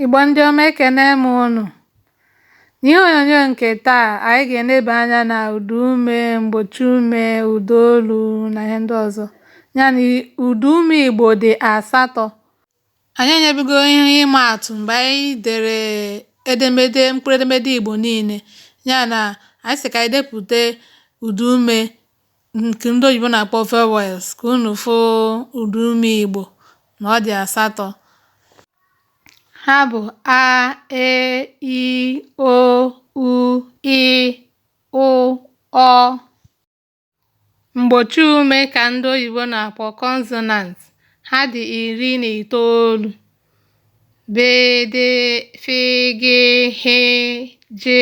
Igbo ndị ọma ekene m unu. N'ihe onyonyo nke taa, anyị ga-eneba anya na ụda ume, mgbochi ume, ụda olu na ihe ndị ọzọ. Ya na ụda ume Igbo dị asatọ. Anyị enyebigo ihe ịma atụ mgbe anyị dere edemede mkpụrụedemede Igbo niile. Ya na anyị sị ka anyị depụta ụda ume nke ndị oyibo na-akpọ vowels ka unu fụ ụda ume Igbo na ọ dị asatọ ha bụ a e i o u ị ụ ọ mgbochi ume ka ndị oyibo na-akpọ consonant ha dị iri na itoolu bị dị fị gị hị jị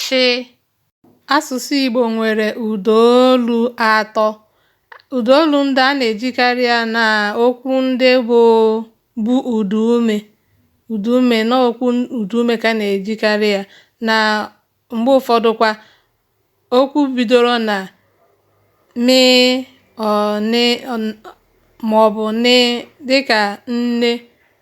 shị. Asụsụ Igbo nwere ụdaolu atọ. Ụdaolu ndị a na-ejikarị ya na okwu ndị bụ bu ụdaume ụdaume na okwu ụdaume ka a na-ejikarị ya na mgbe ụfọdụkwa okwu bidoro na mịị nị maọbụ nịị dịka nne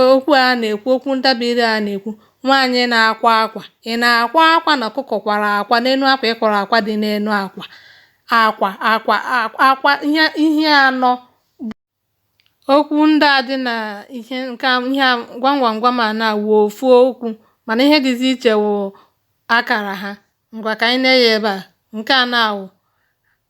Okwu a na-ekwu, okwu ntabire a na-ekwu, nwaanyị na-akwa akwa. Ị na-akwa akwa na ọkụkọ kwara akwa n'elu akwa ị kwara akwa dị n'elu akwa. Akwa akwa akwa ihe ihe anọ okwu ndị a dị na ihe nke a ihe a gwam gwam gwam a na-awụ ofu okwu mana ihe dịzi iche wụ akara ha. Ngwa ka anyị nee anya ebe a. Nke a na-awụ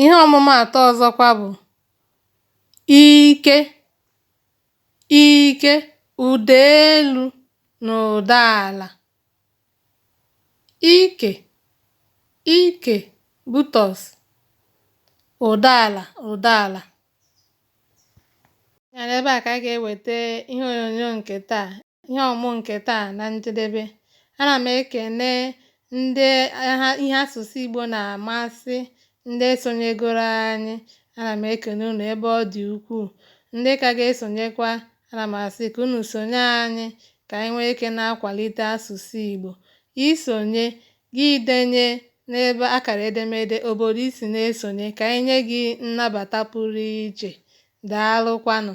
Ihe ọmụmaatụ ọzọkwa bụ ike, ike, ụda elu na ụda ala. Ike, ike, buttocks, ụda ala, ụda ala. Ya na ebe a ka a ga-eweta ihe onyonyo nke taa. ihe ọmụmụ nke taa na njedebe ana m ekene ndị ihe asụsụ Igbo na-amasị ndị sonyegoro anyị ana m ekene unu ebe ọ dị ukwuu ndị ka ga-esonyekwa ana m asị ka unu sonye anyị ka anyị nwee ike na-akwalite asụsụ Igbo i sonye gị denye n'ebe akara edemede obodo i si na-esonye ka anyị nye gị nnabata pụrụ iche daalụkwanụ